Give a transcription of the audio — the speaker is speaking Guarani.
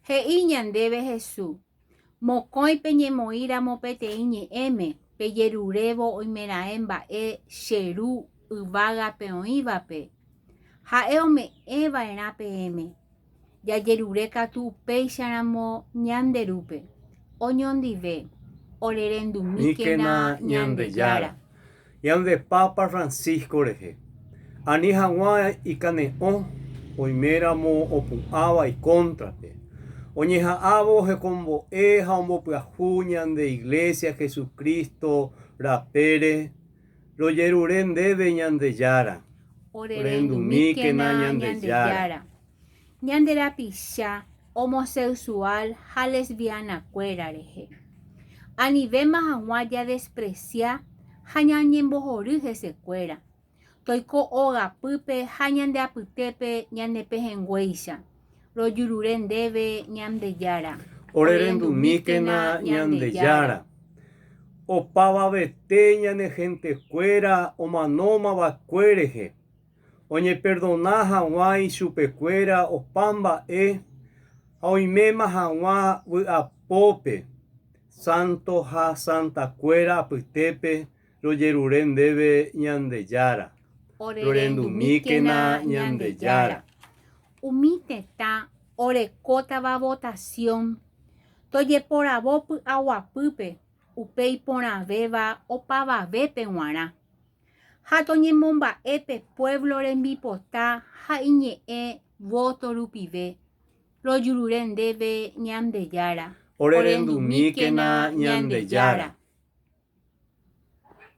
He'i ñandéve Hesu, Mokõi peñemoĩramo peteĩ ñe'ẽme, pejerurévo oimeraẽ mba'e che Ru yvágape oĩvape, Ha'e ome'ẽva'erã peẽme. Jajerure katu upéicharamo ñande Rúpe, oñondive, orerendumíkena Ñandejára. Ñande Papa Francisco rehe. Ani hag̃ua ikane'õ oiméramo opu'ãva ikóntrape. Oñeha'ãvo ohekombo'e ha ombopyahu ñande Iglésia Jesucristo rapére, rojerure ndéve Ñandejára. Orerendumíkena Ñandejára. ñande rapicha homosexual ha lesbiana-kuéra rehe. Anivéma hag̃ua jadespresia ha ñañembohory hesekuéra, toiko ogapýpe ha ñande apytépe ñane pehẽnguéicha, rojurure ndéve Ñandejára. Orerendumíkena Ñandejára. Opavavete ñane hentekuéra omanómava'ekue rehe. oñeperdona hag̃ua ichupekuéra opa mba'e ha oiméma hag̃ua vy'apópe sánto ha santakuéra apytépe rojerure ndéve Ñandejára. Rorendumíkena Ñandejára. Umi tetã orekótava votasión tojeporavo py'aguapýpe upe iporãvéva opavavépe g̃uarã. ha toñemomba'e pe puévlo rembipota ha iñe'ẽ vóto rupive, rojurure ndéve Ñandejára. Orerendumíkena Ñandejára.